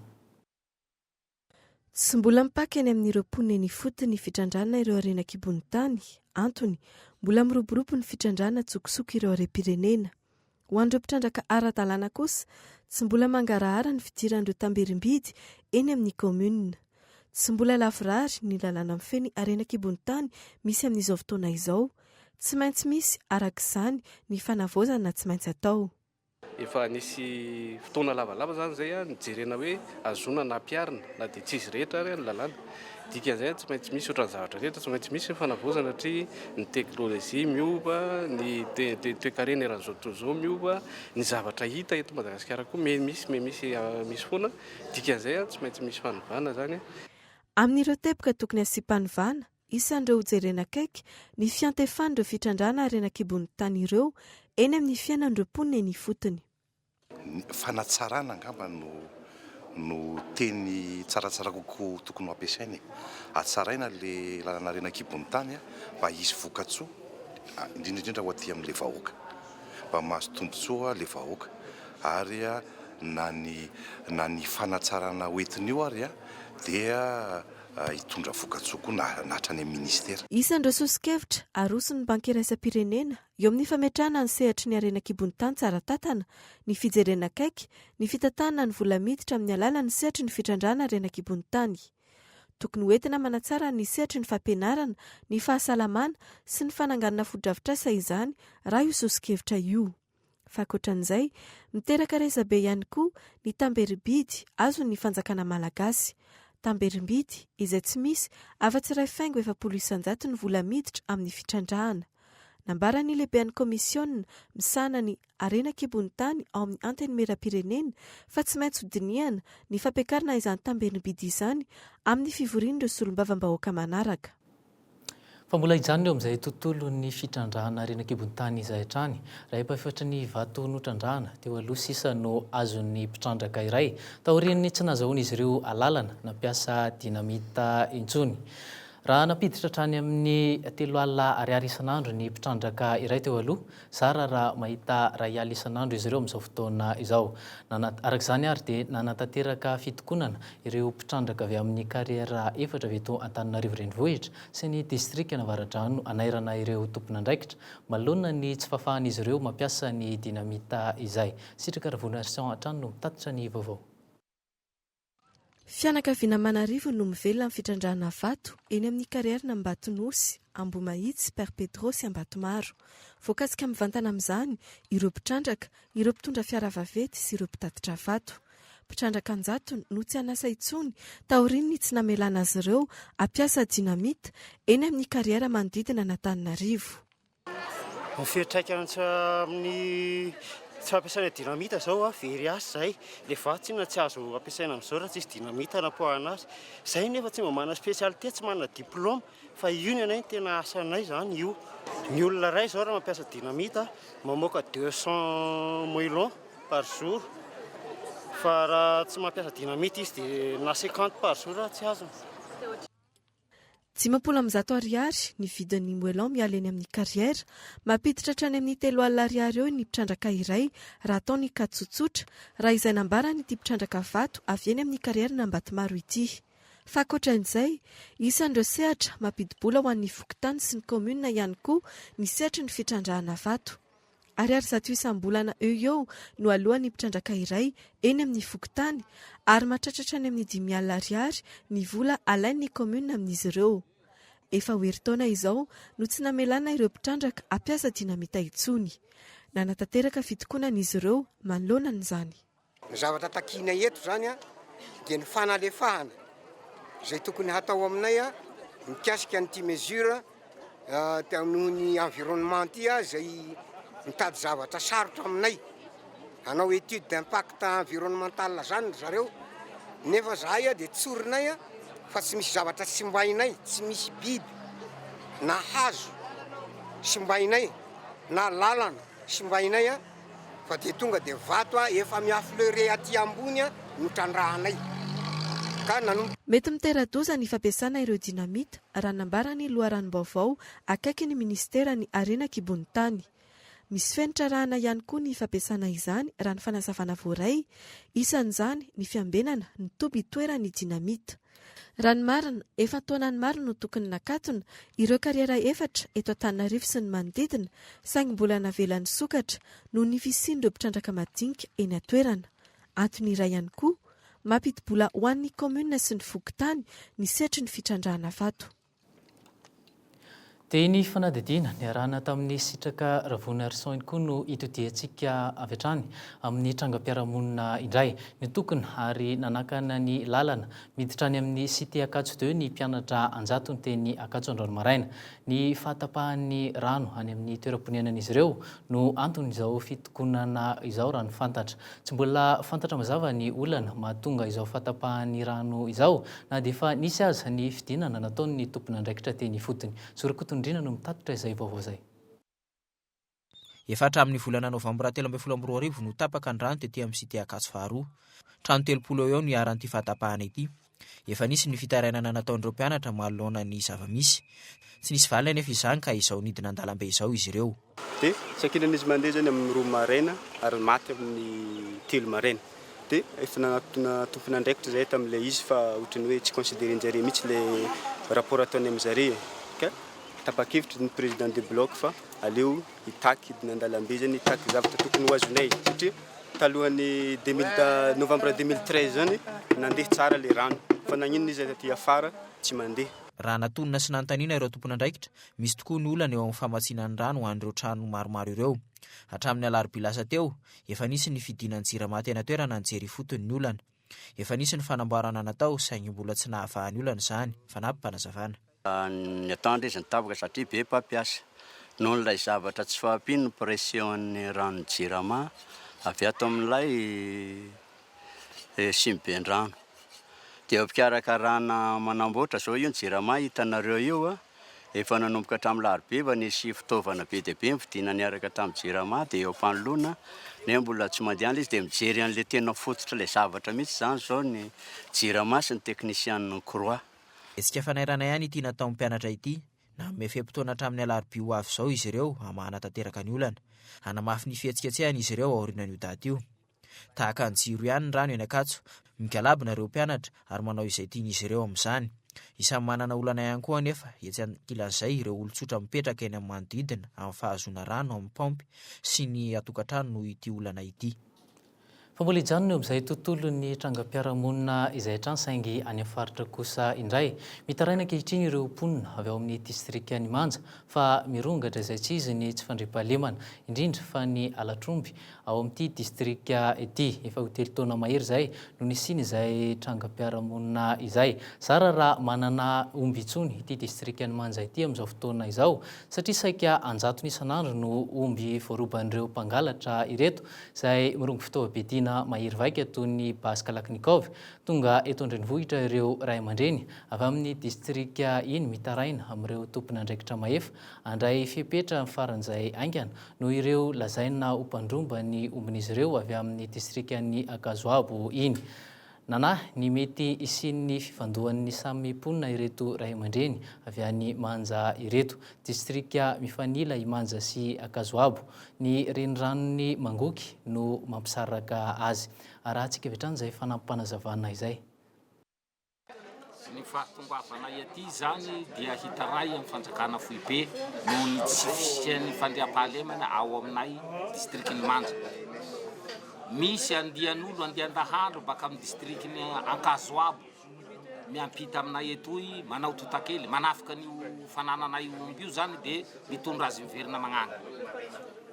[SPEAKER 19] Tsy mbola mipaka eny amin'ireo mponina eny ifotony ny fitrandrahana ireo harena an-kibon'ny tany, antony, mbola miroborobo ny fitrandrahana an-tsokosoko ireo harem-pirenena. Ho an'ireo mpitrandraka ara-dalàna kosa, tsy mbola mangarahara ny fidiran'ireo tamberim-bidy eny amin'ny kaominina. Tsy mbola lavorary ny lalàna mifehy ny harena an-kibon'ny tany misy amin'izao fotoana izao. Tsy maintsy misy, araka izany, ny fanavaozana tsy maintsy atao. Efa nisy
[SPEAKER 20] fotoana lavalava izany izay nijerena hoe hazoana na hampiharina na dia tsy izy rehetra ary ny lalàna. Dikan'izay tsy maintsy misy ohatran'ny zavatra rehetra, tsy maintsy misy ny fanavaozana satria ny teknolojia miova, ny toekarena eran'izao tontolo izao miova, ny zavatra hita eto Madagasikara koa miha misy, miha misy, misy foana. Dikan'izay tsy maintsy misy fanovana izany. Amin'ireo
[SPEAKER 19] teboka tokony hasiam-panovana, Isan'ireo hojerena akaiky ny fiantefan'ireo fitrandrahana harena an-kibon'ny tany ireo eny amin'ny fiainan'ireo mponina eny ifotony. Ny
[SPEAKER 21] fanatsarana angamba no no teny tsaratsara kokoa tokony ho ampiasaina e. Hatsaraina ilay lalana harena an-kibon'ny tany mba hisy vokatsoa, indrindra indrindra ho aty amin'ilay vahoaka. Mba mahazo tombontsoa ilay vahoaka ary na ny na ny fanatsarana hoentina io ary dia. hitondra vokatsoa koa na hatrany amin'ny Ministera. Isan'ireo soso-kevitra
[SPEAKER 19] aroson'ny Banky Iraisam-pirenena eo amin'ny fametrahana ny sehatry ny harena an-kibon'ny tany tsara tantana ny fijerena akaiky ny fitantanana ny vola miditra amin'ny alalan'ny sehatry ny fitrandrahana harena an-kibon'ny tany. Tokony ho entina manatsara ny sehatry ny fampianarana, ny fahasalamana sy ny fananganana fotodrafitrasa izany raha io soso-kevitra io. Fa ankoatran'izay, miteraka resabe ihany koa ny tamberim-bidy azon'ny fanjakana malagasy. Tamberim-bidy izay tsy misy afa-tsy iray faingo efapolo isan-jato ny vola miditra amin'ny fitrandrahana. Nambaran'ny lehiben'ny kaomisiona misahana ny harena an-kibon'ny tany ao amin'ny Antenimierampirenena fa tsy maintsy hodinihana ny fampiakarana izany tamberim-bidy izany amin'ny fivorian'ireo solombavambahoaka manaraka.
[SPEAKER 2] Fa mbola hijanona eo amin'izay tontolon'ny fitrandrahana harena an-kibon'ny tany izay hatrany. Iray efafatry ny vato notrandrahana teo aloha sisa no azon'ny mpitrandraka iray, taorian'ny tsy nahazahoan'izy ireo alalana nampiasa dynamite intsony. Raha nampiditra hatrany amin'ny telo alina ariary isan'andro ny mpitrandraka iray teo aloha, Zara raha mahita iray alina isan'andro izy ireo amin'izao fotoana izao. Nanat, araka izany ary dia nanatanteraka fitokonana ireo mpitrandraka avy amin'ny kariera efatra avy eto Antananarivo Renivohitra sy ny distrikan'Avaradrano hanairana ireo tompon'andraikitra manoloana ny tsy fahafahan'izy ireo mampiasa ny dinamita izay. Sitraka Ravonaison hatrany no mitatitra ny vaovao.
[SPEAKER 19] Fianakaviana aman'arivony no mivelona amin'ny fitrandrahana vato eny amin'ny karierin'i Ambatonosy, Ambohimahitsy, Père Pedro sy Ambatomaro. Voakasika mivantana amin'izany ireo mpitrandraka, ireo mpitondra fiara vaventy sy ireo mpitatitra vato. Mpitrandraka an-jatony no tsy an'asa intsony taorian'ny tsy namelana azy ireo hampiasa dynamite eny amin'ny kariera manodidina an'Antananarivo. Ny
[SPEAKER 22] fiantraikany tsy amin'ny tsy fampiasana dynamite zao a, very asa zay, le vato tsinona tsy azo ampiasaina amzao raha tsisy dynamite anapoahana azy, zay nefa tsy mba manana spécialité, tsy manana diplôme, fa io ny anay tena asanay zany io, ny olona ray zao raha mampiasa dynamite a, mamoaka deux cent moellons par jour, fa raha tsy mampiasa dynamite izy de na cinquante par jour aza tsy azony. Dimampolo
[SPEAKER 19] amby zato ariary ny vidin'ny moellon miala eny amin'ny carrière. Mampiditra hatrany amin'ny telo alina ariary eo ny mpitrandraka iray raha atao ny cas tsotsotra, raha izay nambaran'ity mpitrandraka vato avy eny amin'ny carrière n'Ambatomaro ity. Fa ankoatran'izay, isan'ireo sehatra mampidi-bola ho an'ny fokontany sy ny kaominina ihany koa ny sehatry ny fitrandrahana vato. Ariary zato isam-bolana eo eo no aloan'ny mpitrandraka iray eny amin'ny fokontany ary matratratra any amin'ny dimy alina ariary ny vola alain'ny kaominina amin'izy ireo. Efa ho herintaona izao no tsy namelana ireo mpitrandraka hampiasa dinamita intsony. Nanatanteraka fitokonana izy ireo manoloana an'izany. Ny zavatra
[SPEAKER 23] takianay eto izany dia ny fanalefahana izay tokony hatao aminay mikasika an'ity mesure noho ny environnement ity izay mitady zavatra sarotra aminay. Hanao étude d'impact environnemental izany ry zareo nefa izahay dia tsorinay fa tsy misy zavatra simbainay, tsy misy biby na hazo simbainay na lalana simbainay. Fa dia tonga dia vato a efa mi affleurer aty ambony a no trandrahanay ka
[SPEAKER 19] nanomboka. Mety mitera-doza ny fampiasana ireo dynamite, raha nambara ny loharanom-baovao akaikin'ny minisiteran'ny Harena an-kibon'ny tany. Misy fenitra arahana ihany koa ny fampiasana izany, raha ny fanazavana voaray, isan'izany ny fiambenana ny toby itoeran'ny dynamite. Raha ny marina, efa taonany maro no tokony nakatona ireo kariera efatra eto Antananarivo sy ny manodidina saingy mbola navela nisokatra noho ny fisian'ireo mpitrandraka madinika eny an-toerana. Antony iray ihany koa, mampidi-bola ho an'ny kaominina sy ny fokontany ny sehatry ny fitrandrahana vato.
[SPEAKER 2] Dia ny fanadihadiana niarahana tamin'ny sitraka Ravounarison iny koa no itodihantsika avy hatrany amin'ny trangam-piarahamonina indray. Nitokona ary nanakana ny lalana miditra any amin'ny Cité Akatso deux ny mpianatra an-jatony teny Akatso androany maraina. Ny fahatapahan'ny rano any amin'ny toeram-ponenan'izy ireo no anton'izao fitokonana izao raha ny fantatra. Tsy mbola fantatra mazava ny olana mahatonga izao fahatapahan'ny rano izao, na dia efa nisy aza ny fidinana nataon'ny tompon'andraikitra teny ifotony. Zo Rakotondriana no mitatitra izay vaovao izay. Efa
[SPEAKER 11] hatramin'ny volana novambra telo ambin'ny folo amby roa arivo no tapaka ny rano tety amin'ny Cité Ankatso faharoa. Trano telopolo eo ho eo no iharan'ity fahatapahana ity. Efa nisy ny fitarainana nataon'ireo mpianatra manoloana ny zava-misy. Tsy nisy valiny anefa izany ka izao nidina an-dalambe izao izy ireo. Dia sankinan'izy
[SPEAKER 20] mandeha izany amin'ny roa maraina ary maty amin'ny telo maraina. Dia efa nanatona tompon'andraikitra izahay tamin'ilay izy fa ohatran'ny hoe tsy consideren'jareo mihitsy ilay rapport ataony amin'zareo e. Ka tapa-kevitra ny président de bloc fa aleo hitaky hidina an-dalambe izany, hitaky ny zavatra tokony ho azonay. Satria talohan'ny deux mille ta- novembre deux mille treize izany, nandeha tsara ilay rano. Fa naninona izy aty afara tsy mandeha? Raha natonina sy
[SPEAKER 11] nanontaniana ireo tompon'andraikitra, misy tokoa ny olana eo amin'ny famatsiana ny rano ho an'ireo trano maromaro ireo. Hatramin'ny alarobia lasa teo, efa nisy ny fidiana ny Jirama teny an-toerana nijery ifotony ny olana. Efa nisy ny fanamboarana natao saingy mbola tsy nahavaha ny olana izany, fanampim-panazavana. Ny
[SPEAKER 4] ataondry izy nitaboka satria be mpampiasa. Noho ilay zavatra tsy fahampian'ny pression'ny ranon'ny Jirama avy ato amin'ilay simiben-drano. Dia eo am-pikarakarana manamboatra izao io ny Jirama hitanareo io a. Efa nanomboka hatramin'ny alarobia efa nisy fitaovana be dia be novidiana niaraka tamin'ny Jirama dia eo am-panoloana nefa mbola tsy mandeha ilay izy. Dia mijery an'ilay tena fototr'ilay zavatra mihitsy izany izao ny Jirama sy ny teknisianin'ny Croix. Hetsika fanairanay
[SPEAKER 11] any ity nataon'ny mpianatra ity. Nanome fe-potoana hatramin'ny alarobia ho avy izao izy ireo hamahana tanteraka ny olana. Hanamafy ny fihetsiketsehany izy ireo aorianan'io daty io. Tahaka ny jiro ihany ny rano eny Ankatso. Migalabona ireo mpianatra ary manao izay tian'izy ireo amin'izany. Isan'ny manana olana ihany koa anefa etsy ankilan'izay ireo olon-tsotra mipetraka eny amin'ny manodidina amin'ny fahazoana rano amin'ny paompy sy ny atokantrano noho ity olana ity. Fa mbola
[SPEAKER 2] hijanona eo amin'izay tontolon'ny trangam-piarahamonina izay hatrany saingy any amin'ny faritra kosa indray. Mitaraina ankehitriny ireo mponina avy ao amin'ny distrikan'i Manja fa mirongatra izay tsy izy ny tsy fandriampahalemana, indrindra fa ny halatr'omby ao amin'ity distrika ity. Efa ho telo taona mahery izay no nisian'izay trangam-piarahamonina izay. Zara raha manana omby intsony ity distrikan'i Manja ity amin'izao fotoana izao satria saika an-jatony isan'andro no omby voaroban'ireo mpangalatra ireto izay mirongo fitaovam-piadiana mahery vaika toy ny basy Kalachnikov. Tonga eto an-drenivohitra ireo ray aman-dreny avy amin'ny distrika iny mitaraina amin'ireo tompon'andraikitra mahefa handray fepetra faran'izay haingana noho ireo lazaina ho mpandromba ny ombin'izy ireo avy amin'ny distrikan'i Akazoabo iny. Nanahy ny mety hisian'ny fifandohan'ny samy mponina ireto ray aman-dreny avy any Manja ireto, distrika mifanila i Manja sy Ankazoabo. Ny reniranon'i Mangoky no mampisaraka azy. Arahantsika avy hatrany izay fanampim-panazavana izay.
[SPEAKER 3] Ny fahatongavanay aty izany dia hitaray amin'ny fanjakana foibe noho ny tsy fisian'ny fandriampahalemana ao aminay distrikan'i Manja. Misy andian'olo, andian-dahandro baka amin'ny distrikan'i Ankazoabo miampita aminay etoy, manao totakely, manafika an'io fanananay omby io izany dia mitondra azy miverina mañana.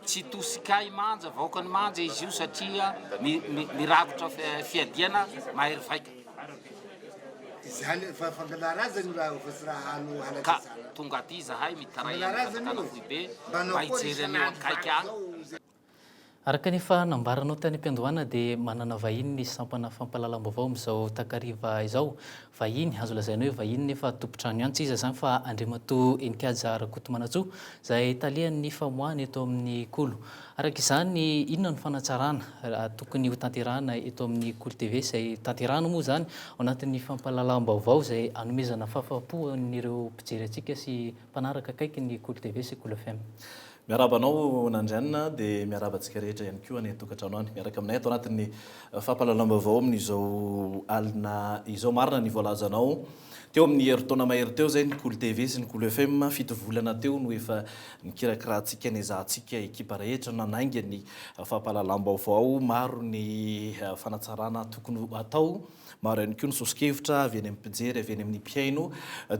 [SPEAKER 3] Tsy tosikay Manja, vahoakan'i Manja izy io satria mirakotra fiadiana mahery vaika. Ka tonga aty izahay mitaray an'i Katakana Foibe mba hijery an'io akaiky ahy.
[SPEAKER 2] Araka ny efa nambaranao tany am-piandohana dia manana vahiny ny sampana fampahalalam-baovao amin'izao takariva izao. Vahiny, azo lazaina hoe vahiny nefa tompon-trano ihany tsy iza izany fa Andriamatoa Heninkaja Rakotomanantsoa izay talehan'ny famoahana eto amin'ny Kolo. Araka izany, inona no fanatsarana tokony hotanterahina eto amin'ny Kolo TV, izay tanterahina moa izany ao anatin'ny fampahalalam-baovao izay hanomezana fahafahampo ho an'ireo mpijery antsika sy mpanaraka akaiky ny Kolo TV sy Kolo FM. Miarahaba anao
[SPEAKER 5] Nandrianina an, dia miarahaba antsika rehetra ihany koa any an-tokantrano any miaraka aminay ato anatin'ny fampahalalam-baovao amin'izao alina izao. Marina ny voalazanao. Teo amin'ny herintaona mahery teo izay ny Cool TV sy ny Cool FM, fito volana teo no efa nikirakirahantsika niezahantsika ekipa rehetra nanainga ny fampahalalam-baovao, maro ny fanatsarana tokony ho atao, maro ihany koa ny soso-kevitra avy any amin'ny mpijery, avy any amin'ny mpihaino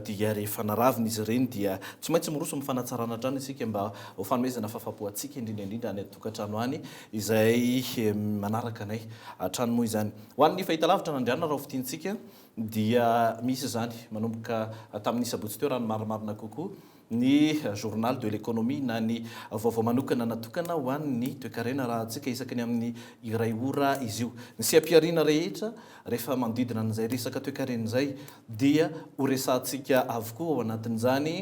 [SPEAKER 5] dia rehefa naravina izy ireny dia tsy maintsy miroso amin'ny fanatsarana hatrany isika mba ho fanomezana fahafapo antsika indrindra indrindra any an-tokantrano any izay manaraka anay hatrany moa izany. Ho an'ny fahitalavitra Nandriana Rahofitintsika. dia misy izany manomboka tamin'ny sabotsy teo raha ny marimarina kokoa, ny Journal de l'Economie na ny vaovao manokana natokana ho an'ny toekarena arahantsika isaky ny amin'ny iray ora izy io. Ny seha-pihariana rehetra rehefa manodidina an'izay resaka toekarena izay dia horesahantsika avokoa ao anatin'izany.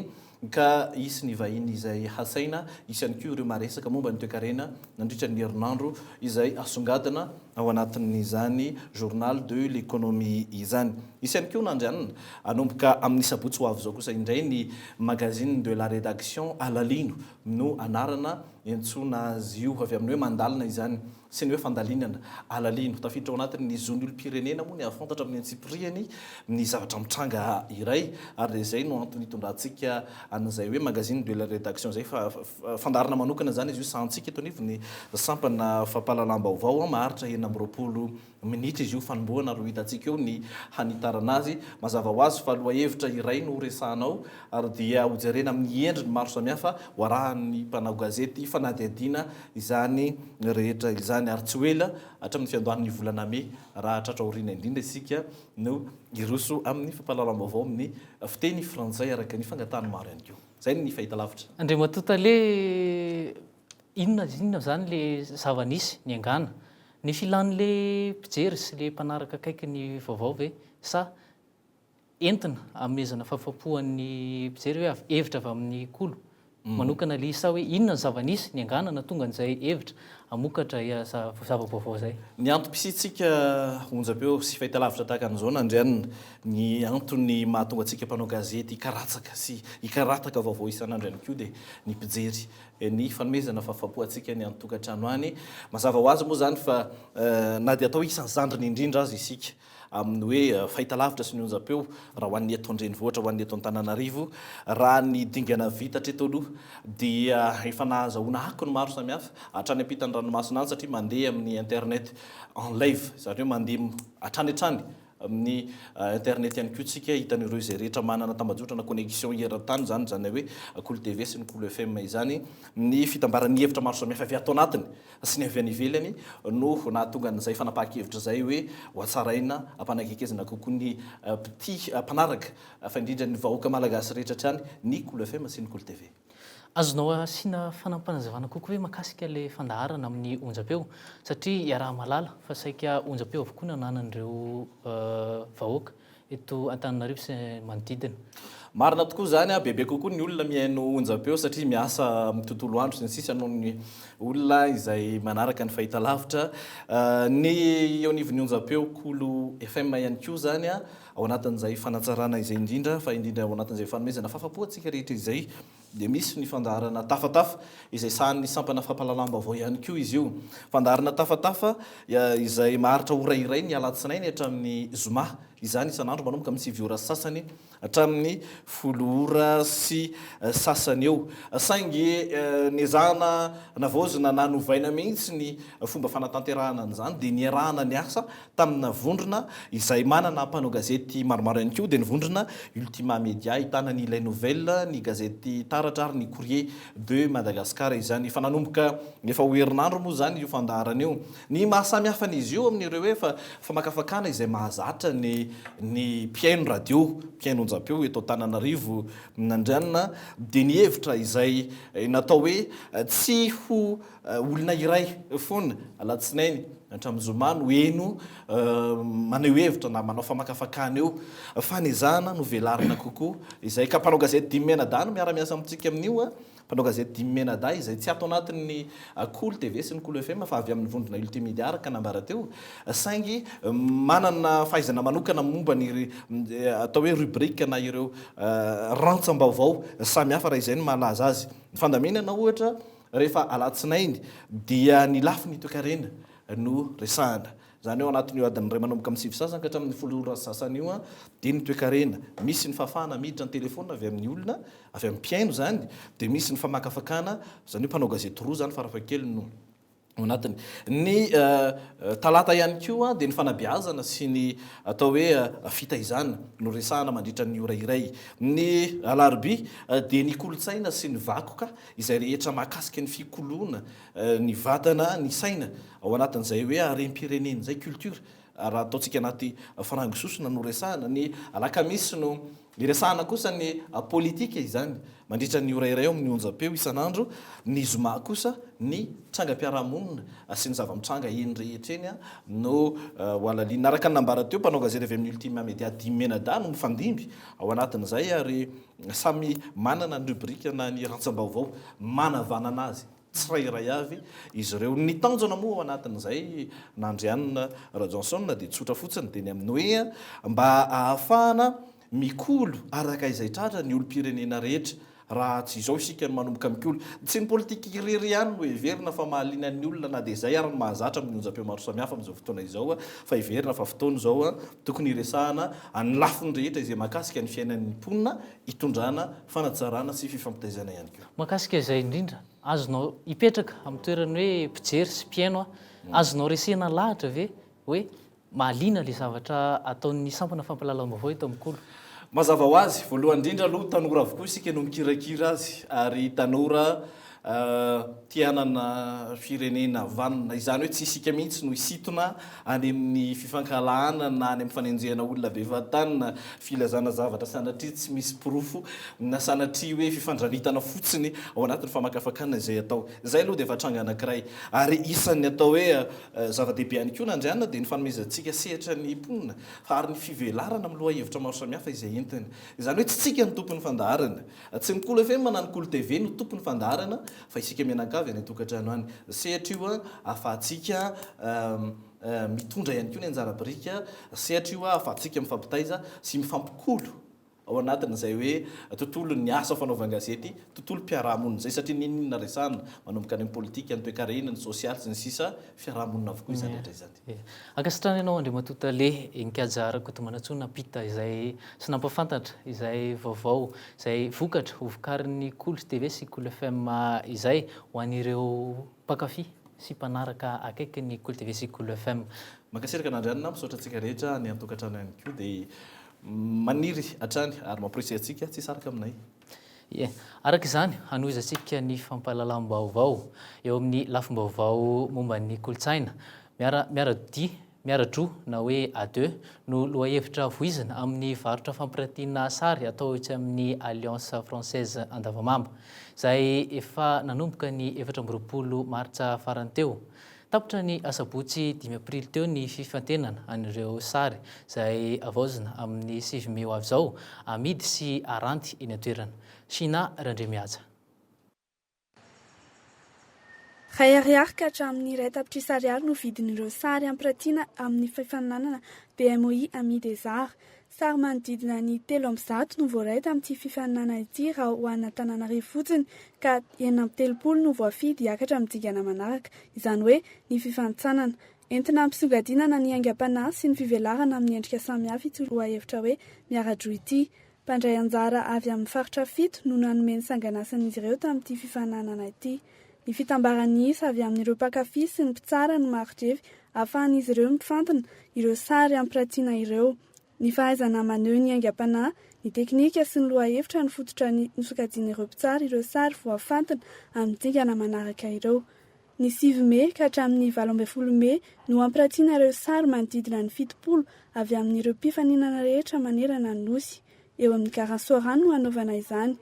[SPEAKER 5] ka hisy ny vahiny izay hasaina, hisy ihany koa ireo maresaka momba ny toekarena nandritra ny herinandro izay hasongadina ao anatin'izany Journal de l'Economie izany. Hisy ihany koa nandrianina hanomboka amin'ny sabotsy ho avy izao kosa indray ny Magazine de la Rédaction, Alalino no anarana iantsoana azy io, avy amin'ny hoe mandalina izany. Tsy ny hoe fandalinana, alalino, tafiditra ao anatin' ny zon'ny olom-pirenena moa ny hahafantatra amin'ny antsipirihany ny zavatra mitranga iray, ary dia izay no antony hitondrantsika an'izay hoe magazine de la rédaction izay. Fa fandaharana manokana izany izy io, sahantsika eto anivon'ny sampana fampahalalam-baovao maharitra enina amby roapolo minitra izy io fanombohana ary ho hitantsika eo ny hanitarana azy. Mazava ho azy fa lohahevitra iray no horesahana ao ary dia hojerena amin'ny endriny maro samihafa ho arahan'ny mpanao gazety fanadihadiana izany rehetra izany ary tsy ho ela hatramin'ny fiandohan'ny volana mey raha hatratra aoriana indrindra isika no hiroso amin'ny fampahalalam-baovao amin'ny fiteny frantsay araka ny fangatahan'ny maro ihany koa. Izay ny fahitalavitra. Andriamatoa Tale,
[SPEAKER 2] Inona dia inona izany le zava-nisy niangana? Ny filan'le mpijery sy le mpanaraka akaiky ny vaovao ve? Sa entina amezana fahafahampohan'ny mpijery hoe avy hevitra avy amin'ny kolo mm. manokana le izy sa hoe inona ny zava-nisy niangana na tonga an'izay hevitra hamokatra ya za- zava-baovao izay? Ny antom-pisiantsika
[SPEAKER 5] onjam-peo sy fahitalavitra tahaka an'izao nandrianina, ny antony mahatonga antsika mpanao gazety hikaratsaka sy hikarataka vaovao isan'andro ihany koa dia ny mpijery. ny fanomezana fahafapo antsika any an-tokantrano any. Mazava ho azy moa izany fa na dia atao hoe isan'ny zandriny indrindra aza isika amin'ny hoe fahitalavitra sy ny onjam-peo raha ho an'ny eto an-drenivohitra, ho an'ny eto Antananarivo, raha ny dingana vita hatreto aloha dia efa nahazahoana akony maro samihafa hatrany am-pitan'ny ranomasina any satria mandeha amin'ny internet en live, izany hoe mandeha hatrany hatrany. amin'ny internet ihany koa tsika hitan'ireo izay rehetra manana tambajotra na connexion eran-tany izany izany hoe Kolo TV sy ny Kolo FM izany ny fitambaran'ny hevitra maro samihafa avy ato anatiny sy ny avy any ivelany no nahatonga an'izay fanapahan-kevitra izay hoe hohatsaraina hampanakaikezina kokoa ny mpitia mpanaraka fa indrindra ny vahoaka malagasy rehetra hatrany ny Kolo FM sy ny Kolo TV. Azonao
[SPEAKER 2] asiana fanapanazavana kokoa ve makasika ilay fandaharana amin'ny onjam-peo? Satria iaraha-mahalala fa saika onjam-peo avokoa no ananan'ireo vahoaka eto Antananarivo sy manodidina. Marina tokoa
[SPEAKER 5] izany, bebe kokoa ny olona mihaino onjam-peo satria miasa amin'ny tontolo andro sy ny sisa noho ny olona izay manaraka ny fahitalavitra. Ny eo anivon'ny onjam-peo Kolo FM ihany koa izany. Ao anatin'izay fanatsarana izay indrindra, fa indrindra ao anatin'izay fanomezana fahafapo antsika rehetra izay, dia misy ny fandaharana tafatafa, izay sahanin'ny sampana fampahalalam-baovao ihany koa izy io. Fandaharana tafatafa izay maharitra ora iray ny alatsinainy hatramin'ny zoma, izany isan'andro manomboka amin'ny sivy ora sy sasany hatramin'ny folo ora sy sasany eo. Saingy nezahana navaozina na novaina mihitsy ny fomba fanatanterahana an'izany, dia niarahana niasa Tamina vondrona izay manana mpanao gazety maromaro ihany koa dia ny vondrona Ultima Media ahitana ny Les Nouvelles, ny gazety Taratra ary ny Courrier de Madagascar izany. Efa nanomboka efa ho herinandro moa izany io fandaharana io. Ny maha samy hafa an'izy io amin'ireo hoe fa famakafakana izay mahazatra ny ny mpihaino radio, mpihaino onjam-peo eto Antananarivo Andrianina dia ny hevitra izay natao hoe tsy ho Olona iray foana alatsinainy hatramin'ny zoma no heno maneho hevitra na manao famakafakana eo fa ny ezahana no velarina kokoa izay ka mpanao gazety dimy mianadahy no miara-miasa amintsika amin'io a mpanao gazety dimy mianadahy izay tsy ato anatin'ny Kolo TV sy ny Kolo FM fa avy amin'ny vondrona Ultimedia araka nambara teo saingy manana fahaizana manokana momba ny atao hoe rubrique na ireo rantsam-baovao samihafa raha izay no mahalaza azy ny fandaminana ohatra Rehefa alatsinainy dia ny lafiny toekarena no resahana. Izany hoe ao anatin'io adiny iray manomboka amin'ny sivy sy sasany ka hatramin'ny folo ora sy sasany io dia ny toekarena. Misy ny fahafahana miditra ny telefaonina avy amin'ny olona, avy amin'ny mpihaino izany, dia misy ny famakafakana, izany hoe mpanao gazety roa izany farafahakeliny no ao anatiny. Ny talata ihany koa dia ny fanabeazana sy ny atao hoe fitaizana no resahana mandritra ny ora iray. Ny alarobia dia ny kolontsaina sy ny vakoka izay rehetra mahakasika ny fikoloana ny vatana, ny saina, ao anatin'izay hoe harem-pirenena izay, culture, raha ataontsika anaty farango sosona no resahana. Ny alakamisy no iresahana kosa ny politika, izany mandritra ny ora iray eo amin'ny onjam-peo isan'andro, ny zoma kosa ny trangam-piarahamonina sy ny zava-mitranga eny rehetra eny no hohalalinina. Araka ny nambara teo, mpanao gazety avy amin'ny Ultima Media dimy mianadahy no mifandimby ao anatin'izay ary. Samy manana ny rubrique na ny rantsambaovao manavanana azy tsirairay avy izy ireo. Ny tanjona moa ao anatin'izay n'Andrianina Rajohnson dia tsotra fotsiny, dia ny amin'ny hoe mba ahafahana mikolo araka izay tratra ny olom-pirenena rehetra. Raha tsy izao isika no manomboka mikolo, tsy ny politika irery ihany no heverina fa mahaliana ny olona na dia izay ary no mahazatra amin'ny onjam-peo maro samihafa amin'izao fotoana izao fa heverina fa fotoana izao Tokony hiresahana an'ny lafiny rehetra izay mahakasika ny fiainan'ny mponina, hitondrana, fanatsarana sy fifampitaizana ihany koa. Mahakasika izay indrindra
[SPEAKER 2] azonao hipetraka amin'ny toeran'ny hoe mpijery sy mpihaino aho, azonao resena lahatra ve hoe mahaliana ilay zavatra ataon'ny sampana fampahalalam-baovao eto amin'ny Kolo? Mazava ho azy,
[SPEAKER 5] voalohany indrindra aloha tanora avokoa isika no mikirakira azy ary tanora te hanana firenena vanona, izany hoe tsy isika mihitsy no hisintona any amin'ny fifankahalahana na any amin'ny fanenjehana olona bevatany na filazana zavatra sanatria tsy misy porofo na sanatria hoe fifandranitana fotsiny ao anatin'ny famakafakana izay atao. Izay aloha dia efa tranga anankiray. Ary isan'ny atao hoe zava-dehibe ihany koa na Andriana dia ny fanomezantsika sehatra ny mponina ary ny fivelarana amin'ny lohahevitra maro samihafa izay entiny. Izany hoe tsy isika no tompon'ny fandaharana. Tsy ny Kolo FM na ny Kolo TV no tompon'ny fandaharana fa isika mianakavy any an-tokantrano any. Sehatra io ahafahantsika mitondra ihany koa ny anjara biriky, sehatra io ahafahantsika mifampitaiza sy mifampikolo ao anatin'izay hoe tontolon'ny asa fanaovan-gazety, tontolom-piarahamonina izay satria n'inon'inona resahana manomboka any amin'ny politika, ny toekarena, ny sosialy sy ny sisa, fiarahamonina avokoa izany rehetra izany. Dia ankasitrana ianao
[SPEAKER 2] Andriamatoa Tale Inkhaja Rakotomanantsoa nampita izay sy nampafantatra izay vaovao, izay vokatra ho vokarin'ny Kolo TV sy Kolo FM izay ho an'ireo mpankafy sy mpanaraka akaiky ny Kolo TV sy Kolo FM. Mankasitraka an'Andrianina
[SPEAKER 5] aho, misaotra antsika rehetra any an-tokantrano ihany koa dia maniry hatrany ary mamporisika antsika tsy hisaraka aminay. Ie.
[SPEAKER 2] Araka izany, hanohizantsika ny fampahalalam-baovao eo amin'ny lafim-baovao momba ny kolontsaina. Miara, miara-dodia, miara-droa na hoe à deux no lohahevitra voizina amin'ny varotra fampirantiana sary atao etsy amin'ny Alliance Française Andavamamba, izay efa nanomboka ny efatra amby roapolo martsa farany teo. Tapitra ny asabotsy dimy aprily teo ny fifantenana an'ireo sary izay havaozina amin'ny sivy mey ho avy izao, amidy sy aranty eny an-toerana. Shina Randriamihaja.
[SPEAKER 6] Iray ariary ka hatramin'ny iray tapitrisa ariary no vidin'ireo sary ampirantiana amin'ny fifaninanana BMOI Amis des Arts. Sary manodidina ny telo amby zato no voaray tamin'ity fifaninanana ity raha ho an'Antananarivo fotsiny ka enina amby telopolo no voafidy hiakatra amin'ny dingana manaraka, izany hoe ny fifanintsanana. Entina hampisongadinana ny aingam-panahy sy ny fivelarana amin'ny endrika samihafa ity lohahevitra hoe Miara-droa ity. Mpandray anjara avy amin'ny faritra fito no nanome ny sanganasan'izy ireo tamin'ity fifaninanana ity. Ny fitambaran'ny isa avy amin'ireo mpankafy sy ny mpitsara no marin-drefy ahafahan'izy ireo mifantina ireo sary ampirantiana ireo. Ny fahaizana maneho ny aingam-panahy, ny teknika sy ny lohahevitra no fototra nosokajian'ireo mpitsara ireo sary voafantina amin'ny dingana manaraka ireo. Ny sivy mey ka hatramin'ny valo ambin'ny folo mey no hampirantiana ireo sary manodidina ny fitopolo avy amin'ireo mpifaninana rehetra manerana ny Nosy. Eo amin'ny Garant Soarano no hanaovana izany.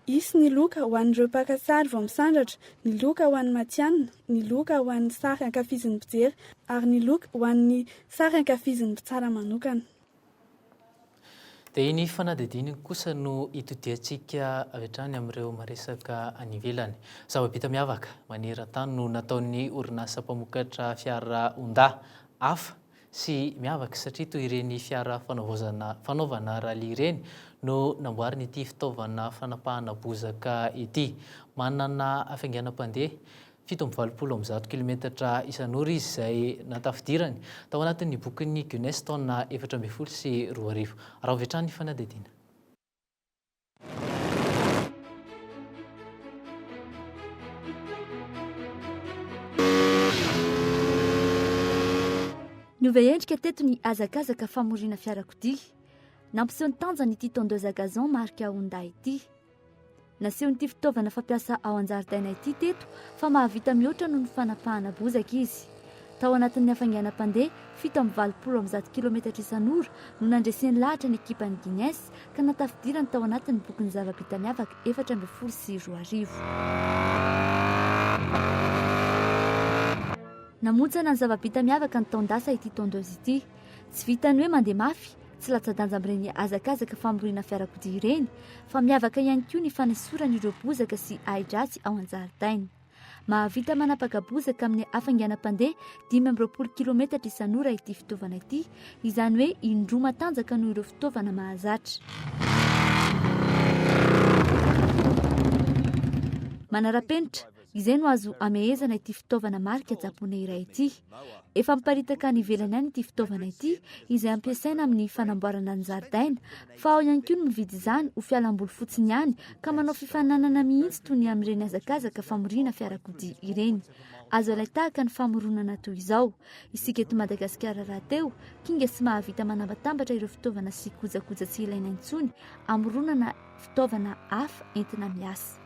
[SPEAKER 6] Hisy ny loka ho an'ireo mpaka sary vao misandratra, ny loka ho an'ny matihanina, ny loka ho an'ny sary ankafizin'ny mpijery ary ny loka ho an'ny sary ankafizin'ny mpitsara manokana.
[SPEAKER 2] Dia iny fanadihadiana iny kosa no hitodiantsika avy hatrany amin'ireo maresaka any ivelany. Zava-bita miavaka maneran-tany no nataon'ny orinasa mpamokatra fiara Honda, Hafa, sy miavaka satria toy ireny fiara fanaovaozana fanaovana rallye ireny no namboarina ity fitaovana fanapahana bozaka ity. Manana hafainganam-pandeha fito amby valopolo amby zato kilometatra isan'ora izy izay natafidirany tao anatin'ny bokin'ny Guinness taona efatra ambin'ny folo sy roa arivo. Araho avy hatrany ny fanadihadiana.
[SPEAKER 7] Niova endrika teto ny hazakazaka famoriana fiarakodia. Nampiseho ny tanjany ity tondeuse à gazon marika Honda ity. Nasehon'ity fitaovana fampiasa ao an-jaridaina ity teto fa mahavita mihoatra noho ny fanapahana bozaka izy. Tao anatin'ny hafainganam-pandeha fito amby valopolo amby zato kilometatra isan'ora no nandreseny lahatra ny ekipan'ny Guinness ka natafidirany tao anatin'ny bokin'ny zava-bita miavaka efatra ambin'ny folo sy roa arivo. Namontsana ny zava-bita miavaka ny taon-dasa ity tondeuse ity. Tsy vitan'ny hoe mandeha mafy, Tsy latsa-danja amin'ireny hazakazaka famoriana fiarakodia ireny fa miavaka ihany koa ny fanesorany ireo bozaka sy ahi-dratsy ao an-jaridaina. Mahavita manapaka bozaka amin'ny hafainganam-pandeha dimy amby roapolo kilometatra isan'ora ity fitaovana ity, izany hoe indroa matanjaka noho ireo fitaovana mahazatra. Manara-penitra, Izay no azo amehezana ity fitaovana marika japoney iray ity. Efa miparitaka any ivelany any ity fitaovana ity izay ampiasaina amin'ny fanamboarana ny zaridaina fa ao ihany koa ny mividy izany ho fialamboly fotsiny ihany ka manao fifaninanana mihitsy toy ny amin'ireny hazakazaka famoriana fiarakodia ireny. Azo alay tahaka ny famoronana toy izao. Isika eto Madagasikara rahateo, kinga sy mahavita manambatambatra ireo fitaovana sy kojakoja tsy ilaina intsony amoronana fitaovana hafa entina miasa.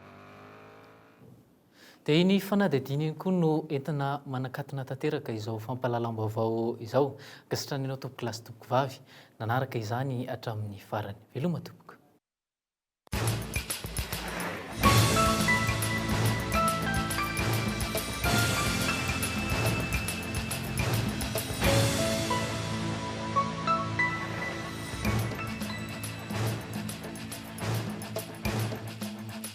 [SPEAKER 2] Dia iny fanadihadiana iny koa no entina manakatona tanteraka izao fampahalalam-baovao izao. Ankasitrahana anao tompoko lahy sy tompoko vavy nanaraka izany hatramin'ny farany. Veloma tompoko.